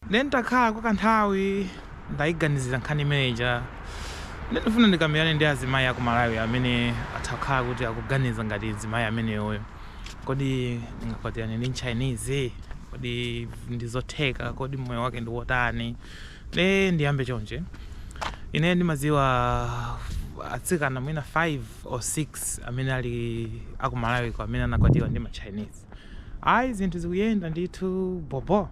Nde n'takhala kwa kanthawi ndaiganizira nkhani imene ija nde ndifuna ndikambirane ndi azimayi aku Malawi amene atha kukhala kuti akuganiza ngati mzimayi ameneyoyo. Kodi ndingakwatirane ndi m'Chinese? Kodi ndi zotheka? Kodi moyo wake ndi wotani? Nde ndiyambe chonchi, ine ndimadziwa atsikana mwina 5 or 6 amene ali aku Malawiko amene anakwatiwa ndi ma Chinese. Ayi zinthu zikuyenda ndithu bhobho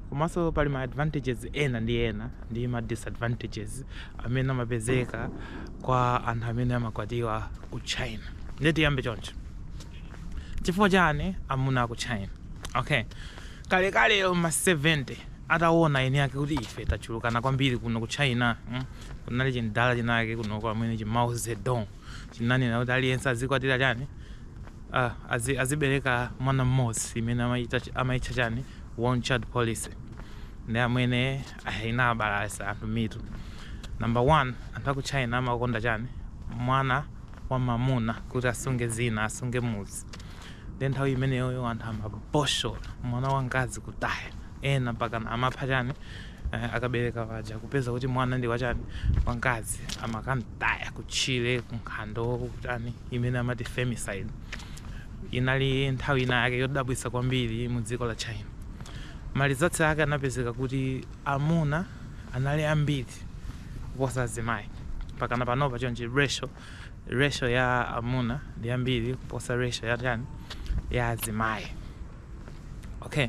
komanso pali ma advantages ena ndi ena ndi ma disadvantages amene amapezeka kwa anthu amene amakwatiwa ku China nde tiyambe choncho chifukwa chani amuna aku China okay kalekalelo mma 70 atawona eni ake kuti ife tachulukana kwambiri kuno ku China kunali chimdala chinake kunoko amene chi Mao Zedong chinanena kuti aliyense azikwatira chani uh, azi, azibereka mwana mmodzi imene amaitcha chani one child policy ndi imene inabalalitsa anthu mitu number one anthu aku china amakonda chani mwana wa mamuna kuti asunge dzina asunge mudzi ndi nthawi imeneyoyo anthu amabotshola mwana wa mkazi kutaya ena mpaka amapha chani eh, akabereka paja kupeza kuti mwana ndi wachani wankazi amakamtaya kutchire kunkhalango kutani imene amati femicide inali nthawi ina yake yodabwitsa kwambiri mu dziko la china ma results ake anapezeka kuti amuna anali ambiri kuposa azimayi pakana panopa chonchi ratio ratio ya amuna ndi yambiri kuposa ratio ya chani ya azimayi okay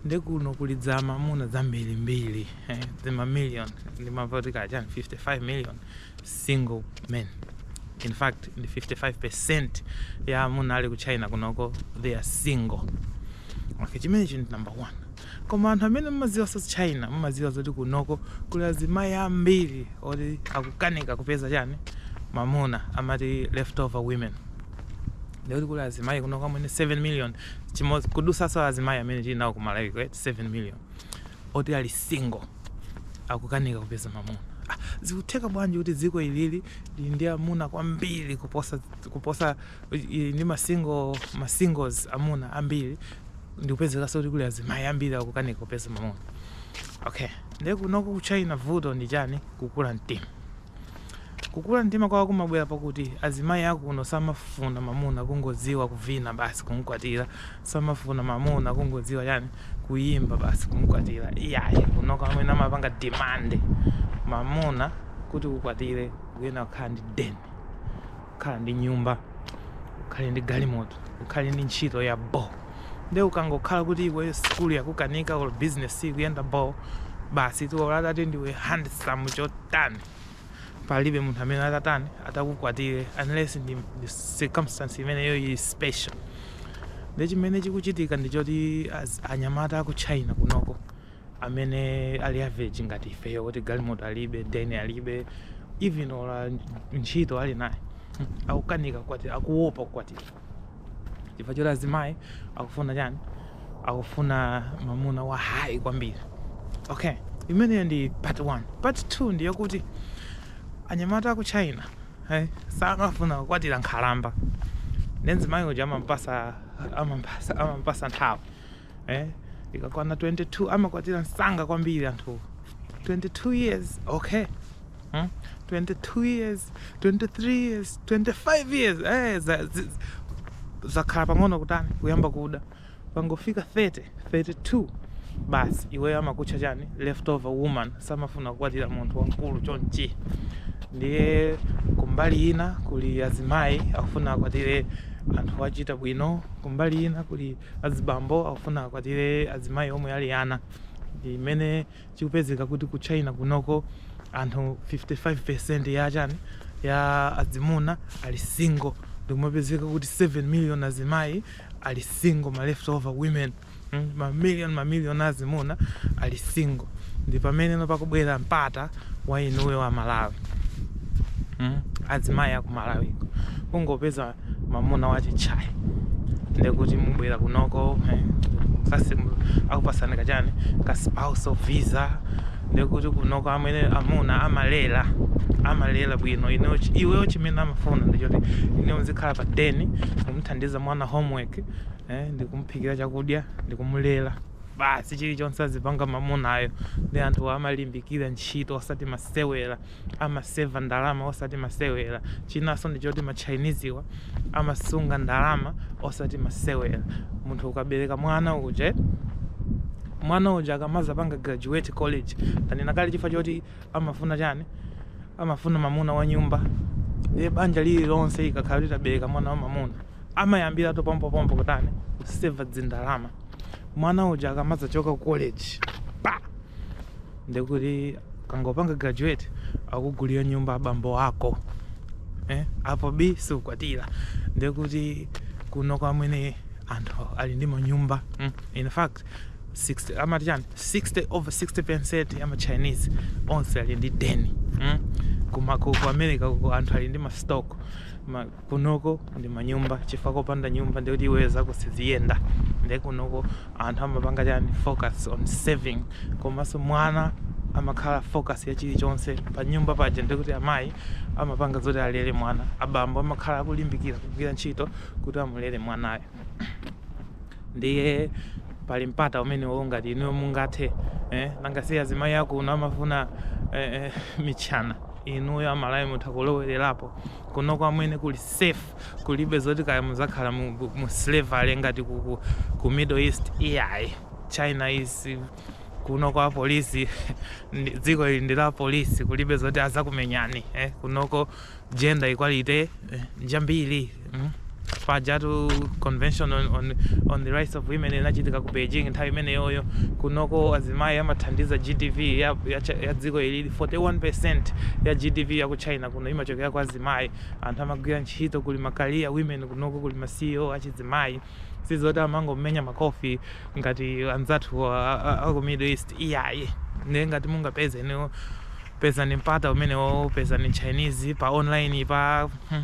ndi kuno kuli dzimamuna zambirimbiri eh, dzima million ndimavutika chani 55 million single men in fact ndi 55 percent ya amuna ali ku china kunoko they are single okay chimenechi ndi number one Koma anthu amene mumadziwa za China mumadziwa zoti kunoko kuli azimai ambiri oti akukanika kupeza chani mamuna amati left over women ndikuti kuli azimai kunoko amene 7 million chimodzi kudutsaso azimai amene tili nawo ku Malawi ku 7 million oti ali single akukanika kupeza mamuna ah, zikutheka bwanji kuti dziko ilili lili ndi amuna kwambiri kuposa kuposa ndi masingo masingles amuna ambiri ndikupezekaso kuti kuli azimayi ambiri akukanika kupeza mamuna okay nde kunoko ku china vuto ndi chani kukula mtima kukula mtima kwawo kumabwera pakuti azimayi akuno samafuna mamuna kungodziwa kuvina basi kumkwatira samafuna mamuna kungodziwa chani kuyimba basi kumkwatira iyayi kunoko amene amapanga demand mamuna kuti ukwatire ukuyenera kukhala ndi deni kukhala ndi nyumba ukhale ndi galimoto ukhale ndi ntchito ya bo nde ukangokhala kuti iwe sukulu yakukanika or business siikuyenda bo basi iwe atati ndiwe handsome chotani palibe munthu amene atatani atakukwatire unless ndi ndi circumstance imeneyo ili special nde chimene chikuchitika ndi choti az- anyamata aku china kunoko amene ali average ngati ifeyo kuti galimoto alibe deni alibe even ola ntchito ali nayo hmm, akukanika kukwatira akuopa kukwatira chifukwa choti azimayi akufuna chani akufuna mamuna wa hayi kwambiri okay imeneyo ndi part 1 part 2 ndiyokuti anyamata aku china hey, eh, samafuna kukwatira nkhalamba nde mzimayi uja amampasa amampasa amampasa nthawi eh? ikakwana 22 amakwatira msanga kwambiri anthu 22 years okay hmm? 22 years 23 years 25 years eh, za, zi, zakhala pang'ono kutani kuyamba kuda pangofika 30 32 basi iweyo amakutcha chani leftover woman samafuna kukwatira munthu wamkulu chonchi ndiye kumbali ina kuli azimayi akufuna akwatire anthu achita bwino kumbali ina kuli Azibambo akufuna akwatire azimayi omwe ali ana ndi mmene zikupezeka kuti ku China kunoko anthu 55% ya chani ya azimuna ali single ndikumapezeka kuti 7 million azimayi ali single ma left over women ma million ma million a azimuna ali single ndi pameneno pakubwera mpata wa inuyo a Malawi azimayi a ku Malawiko kungopeza mamuna wachitchaina ndekuti mubwera kunoko eh, akupasani kachani ka spousal visa ndekuti kunoko amwene amuna amalera amalera bwino ineyo chi- iweyo chimene amafuna ndichoti inuyo muzikhala pa deni kumuthandiza mwana homework eh, ndikumuphikira chakudya ndikumulera basi chilichonse azipanga mamunayo ndi anthuwa amalimbikira ntchito osati masewera amaseva ndalama osati masewera. Chinanso ndi choti ma Chinese'wa amasunga ndalama osati masewera. Munthu ukabereka mwana uje, mwana uja akamazapanga graduate college, tanena kale chifukwa choti amafuna chani? Amafuna mamuna wa nyumba. Ndiye banja lililonse likakhala litabereka mwana wa mamuna, amayambiratu pompopompo kutani? Kuseva dzindalama. Mwana uja akamazachoka ku college, pa! ndekuti kangopanga graduate akugulira nyumba abambo ako eh? apo bii siukwatira ndekuti kuno amwene anthu ali ndi manyumba mm? in fact 60 amati chani 60 over 60 percent ya ma chinese onse ali ndi deni mm? kuma ku ku america kuko anthu ali ndi ma stock ma Kunoko ndi manyumba chifukwa kopanda nyumba ndekuti iweyo zako siziyenda nde kunoko anthu amapanga chani focus on saving komanso mwana amakhala focus ya chilichonse pa nyumba paja ndekuti amayi amapanga zoti alere mwana abambo amakhala akulimbikira kugwira ntchito kuti amulere mwanayo ndiye pali mpata umenewo ngati inuyo mungathe eh, nanga si azimayi akuno amafuna eh, eh, mitchana inuyo amalawi mutha kulowererapo kunoko amwene kuli safe kulibe zoti kaya muzakhala mu, mu slavery ngati ku, ku, ku middle east iyayi china is kunoko apolisi ndi- dziko ili ndi la apolisi kulibe zoti azakumenyani eh? kunoko gender equality eh? njambiri mm? Pajatu convention on on on the rights of women inachitika ku Beijing nthawi imeneyoyo. Kunoko azimayi amathandiza GDP ya ya cha- ya dziko ili 41% ya GDP ya ku China kuno imachokera kwa azimayi. Anthu amagwira ntchito kuli ma career women kunoko kuli ma CEO achizimayi. Sizoti amangomenya makofi ngati anzathu a, a, a ku Middle East iyayi. Ndiye ngati mungapeze inuyo pezani mpata umenewo pezani Chinese pa online pa hmm.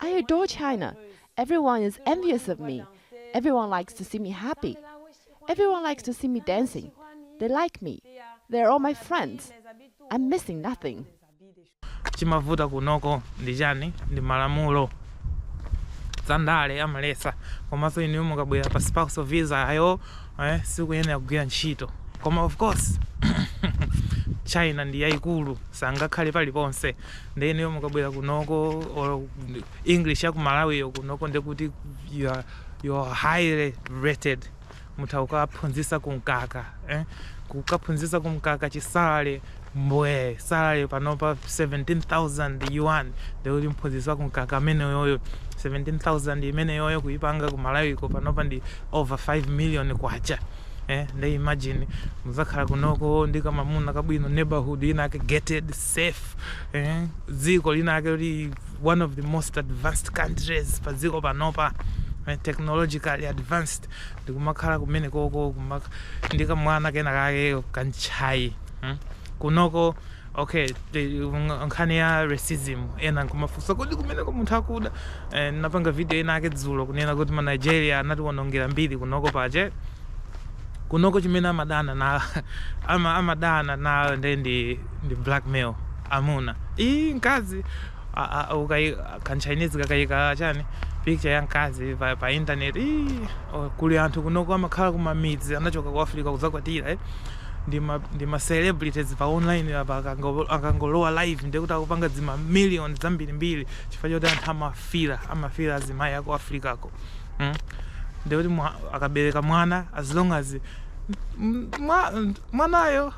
I adore China. Everyone is envious of me. Everyone likes to see me happy. Everyone likes to see me dancing. They like me. They are all my friends. I'm missing nothing. chimavuta kunoko ndi chani ndi malamulo zandale amalesa komanso inuyo mukabwera pa spouse visa ayo eh sikuyenera kugwira ntchito koma of course china ndi yaikulu sangakhale paliponse nde inuyo mukabwera kunoko or english ya ku malawiyo kunoko ndekuti you are, you are highly rated mutha kukaphunzisa kumkaka eh? kukaphunzisa kumkaka chisale mbwee salary panopa 17,000 yuan ndekuti mphunzitsi wa kumkaka ameneyoyo 17,000 imeneyoyo kuipanga ku malawiko panopa ndi over 5 million kwacha eh, nde imagine muzakhala kunoko ndi kamamuna kabwino neighborhood inake gated safe eh, dziko linake kuti one of the most advanced countries pa dziko panopa eh, technologically advanced ndikumakhala kumenekoko kumak- ndi kamwana kena kake kachinese Hmm? kunoko okay the, ng- nkhani ya racism ena amafunsa kodi kumeneko anthu akuda eh, napanga video inayake dzulo kunena kuti ma nigeria anatiwonongera mbiri kunoko basi kunoko chimene amadana na ama, amadana nayo nde ndi, ndi blackmail amuna iyi mkazi a- a- ukai- kanchinese kakayika chani picture ya mkazi pa, pa internet ii, o, kuli anthu kunoko amakhala kumamidzi anachoka ku africa kuzakwatira eh. ndi ma ndi ma celebrities pa online apa akango- apa akangolowa live ndiye kuti akupanga dzima million zambirimbiri chifukwa choti anthu amafira amafira azimayi aku africako mm? ndiye kuti mwa- akabereka mwana as long as m- mwa- mwanayo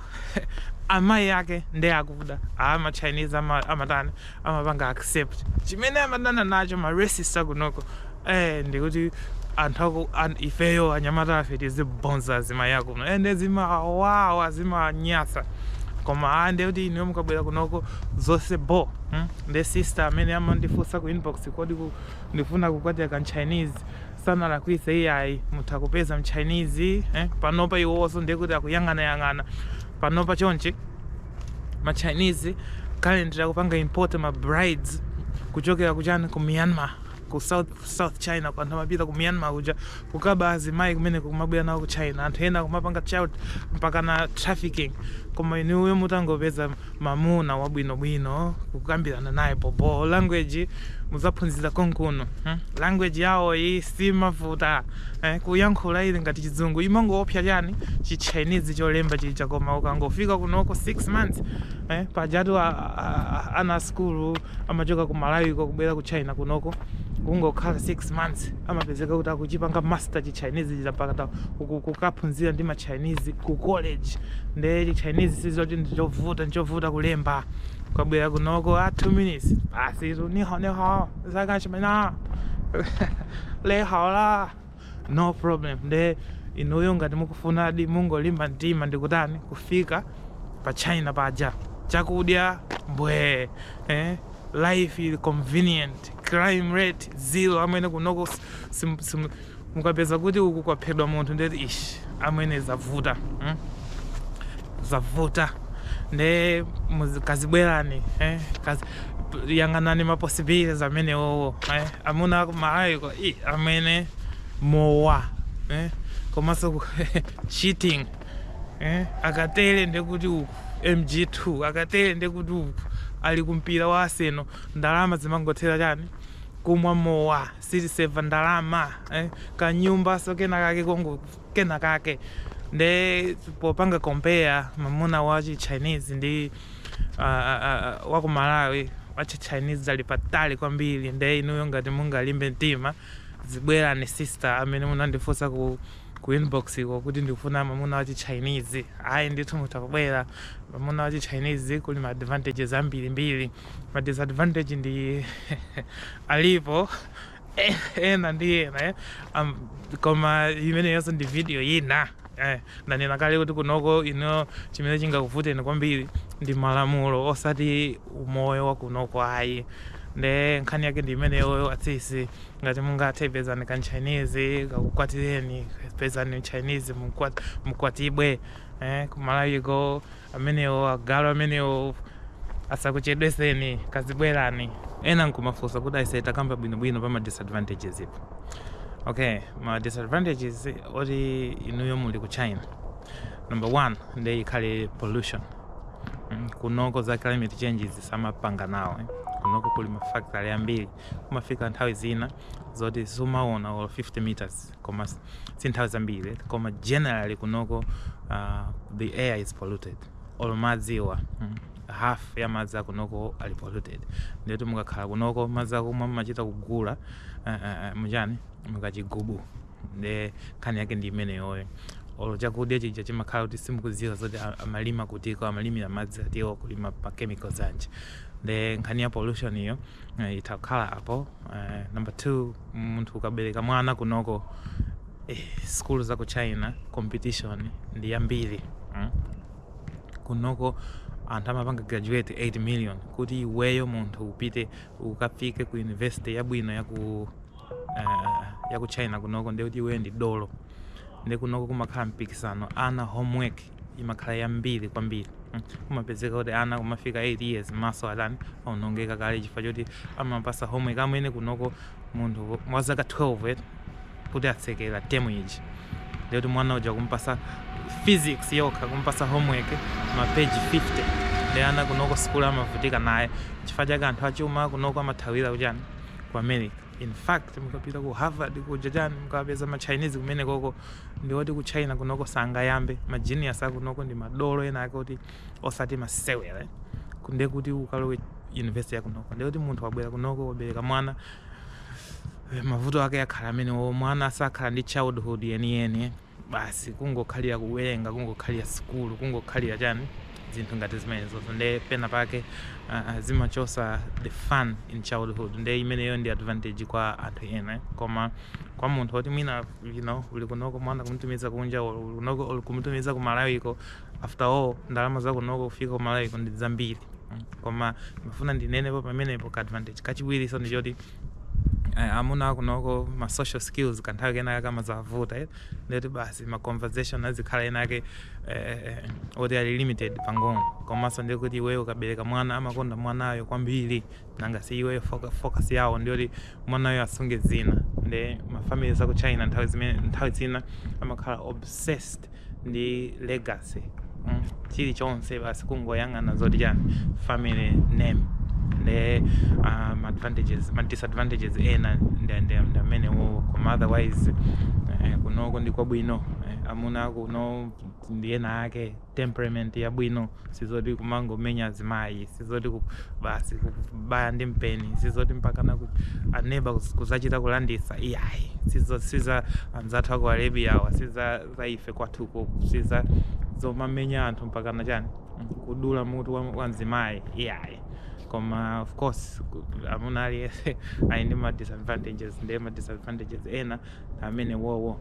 amayi ake ndi akuda ama chinese ama- amatani amapanga accept chimene amadana nacho ma racist akunoko eh ndikuti anthu aku an, ifeyo anyamata tizibonza azimayi akuno eh nde zimawawa zimanyasa koma ah nde kuti inu mukabwera kunoko zonse bo hmm? nde sister amene amandifunsa ku inbox kodi ku, ndifuna kukwatira kamchinese sanalakwise iyayi mutha kupeza mchinese eh? panopa iwoso ndekuti akuyang'anayang'ana panopa chonchi ma chinese currently akupanga import ma brides kuchokera kuchani ku myanmar ku south, south china anthu amapita ku myanmar kuja kukaba azimayi kumeneko kumabwera nawo ku china anthu ena kumapanga chani mpaka na trafficking koma inuyo mutangopeza mamuna wabwinobwino kukambirana naye bobo language muzaphunzira konkuno hmm? language yawoyi simavuta eh, kuyankhula ili ngati chizungu chimangoopsya chani chi Chinese cholemba chija koma ukangofika kunoko 6 months eh, pajatu a- a- a- ana a skulu amachoka ku Malawi ko kubwera ku China kunoko kungokhala 6 months amapezeka kuti akuchipanga master chi Chinese chija mpaka ta- kuku- kukaphunzira ndi ma Chinese ku college nde chi Chinese sizoti ndichovuta ndichovuta kulemba ukabwera kunoko a 2 minutes basi tu niho niho zaka chimena lehaola no problem nde inuyo ngati mukufunadi mungolimba mtima ndikutani kufika pa china paja chakudya mbwee eh? life ili convenient crime rate zero amwene kunoko sim, sim, Mukapeza kuti uku kwaphedwa munthu ndiye kuti ish amwene zavuta mm? zavuta nde muzi- kazibwerani eh? Kazi, p- yang'anani ma possibilities amenewowo eh? amuna aku maayikowa amwene mowa eh? komanso ku- cheating eh? akatele ndekuti uku mg2 akatele ndekuti uku ali kumpira wa Arsenal ndalama zimangothera chani kumwa mowa sitiseva ndalama eh, kanyumba so kena kake kongo kena kake nde popanga compare mamuna wa chi chinese ndi uh, uh, uh, wa ku malawi wa chi chinese ali patali kwambiri nde inuyo ngati mungalimbe mtima zibwerani sister amene munandifunsa ku ku inbox ko kuti ndikufuna mamuna wa chi chinese ayi ndithu mutha kubwera mamuna wa chi chinese kuli ma advantages ambiri mbiri ma disadvantage ndi alipo ena ndi ena eh. um, koma imeneyonso ndi video ina eh, ndanena kale kuti kunoko ineyo chimene chingakuvuteni kwambiri ndi malamulo osati umoyo wa kunoko ayi nde nkhani yake ndi imeneyoyo atsisi ngati mungathe pezani ka mchinese kakukwatireni pezani mchinese mukwatibwe eh, ku Malawiko amenewo agalu amenewa asakuchedweseni kazibwerani ena nkumafunsa kuti aise takamba bwinobwino pa ma disadvantagespo okay ma disadvantages oti inuyo muli ku china number one nde ikhale pollution Mm, kunoko za climate changes samapanga nawo eh. kunoko kuli mafactory ambiri kumafika nthawi zina zoti sumaona or 50 meters koma si nthawi zambiri koma generally kunoko uh, the air is polluted or madziwa mm, half ya madzi akunoko ali polluted ndiyoti mukakhala kunoko madzi akumwa mumachita kugula uh, uh, mchani mukachigubu nde nkhani yake ndi imeneyoyo olo chakudya chija chimakhala kuti simukudziwa zoti a- amalima kutiko amalimira madzi atiwo kulima pa chemicals anji nde nkhani ya pollutionyo eh, itha kukhala apo Uh, number two, munthu ukabereka mwana kunoko eh, skulu za ku China competition ndi yambiri mm? kunoko anthu amapanga graduate 8 million kuti iweyo munthu upite ukafike ku university yabwino ya ku uh, ya ku China kunoko ndikuti iweyo ndi dolo nde kunoko kumakhala mpikisano ana homework imakhala yambiri kwambiri kumapezeka kuti ana kumafika 8 years maso atatani aonongeka kale chifukwa choti amapasa homework amene kunoko munthu wa zaka 12 eti kuti atsekera temu iji ndikuti mwana uja umpasa physics yokha kumpasa homework mapeji 50 nde ana kunoko sikulu amavutika nayo chifukwa chake anthu achuma kunoko amathawira kuchani ku america in fact mukapite ku harvard kuja chani mukapeza ma chinese kumenekoko ndi oti ku China kunoko sangayambe, ma genius akunoko ndi madolo ena ake oti osati masewera, nde kuti ukalowe university yakunoko nde kuti munthu wabwera kunoko wabereka mwana eh, mavuto ake akhala amenewo, mwana sakhala ndi childhood yeniyeni eh. basi kungokhalira kuwerenga, kungokhalira sukulu, kungokhalira chani zinthu ngati zimenezozo nde pena pake ah, ah, zimachotsa the fun in childhood nde imeneyo ndi advantage kwa anthu ena eh. koma kwa munthu oti mwina you know uli kunoko mwana kumutumiza kunja or uli kunoko or kumutumiza ku malawiko after all ndalama za kunoko kufika ku malawiko ndi zambiri Mm. koma ndifuna ndinenepo pamenepo ka advantage kachiwiri so ndi choti eh, amuna akunoko ma social skills kanthawi kenaka kamazavuta eh. ndiyoti basi ma conversation azikhala enake eh, eh, oti ali limited pang'ono komanso ndikuti iweyo ukabereka mwana amakonda mwanayo kwambiri nanga si iweyo foka- focus yawo ndiyoti mwanayo asunge dzina nde mafamily za ku china nthawi zimene nthawi zina amakhala obsessed ndi legacy mm? chilichonse basi kungoyang'ana zoti chani family name nde um, advantages ma disadvantages ena nde- nde- nde amene wowo koma otherwise eh, kunoko ndi kwabwino eh, amuna kuno ndi ena ake temperament yabwino sizoti kumangomenya azimayi sizoti ku- basi kubaya ndi mpeni sizoti mpakana ku- aneba kuz- kuzachita kulandisa iyayi sizo siza anzathu aku Arabia awa siza za ife kwathuko siza zomamenya anthu mpakana chani kudula mutu wa, wa mzimayi iyayi koma of course ku- mamuna aliyense ali ndi ma disadvantages ndiye ma disadvantages ena amene wowo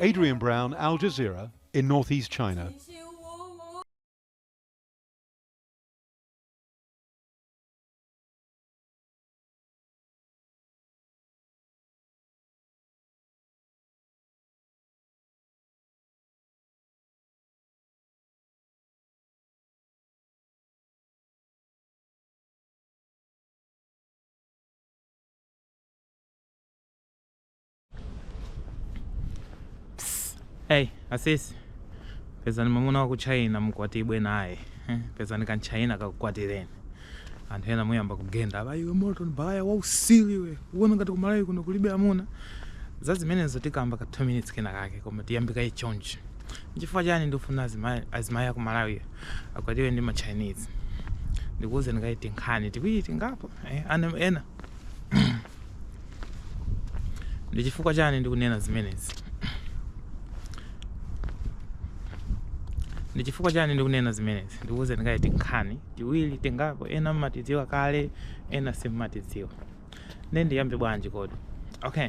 Adrian Brown, Al Jazeera, in northeast China. Hey, asisi pezani mwamuna wa ku china mukwatibwe naye eh, pezani kamchaina kakukwatireni anthu ena muyamba kugenda apa iwe morton baya wausili iwe uona ngati kumalawi kuno kulibe amuna za zimenezo tikamba ka 2 minutes kena kake koma tiyambe kaye chonchi nchifukwa chani ndifuna azima- azimayi aku malawi akwatiwe ndi ma chinese ndikuwuzeni kaye tinkhani tiwiri tingapo eh, ana ena ndi chifukwa chani ndikunena zimenezi ndi chifukwa chani ndikunena zimenezi ndikuwuzeni kaye tinkhani tiwiri tingapo ena mmatidziwa kale ena simmatidziwa nde ndiyambe bwanji kodi okay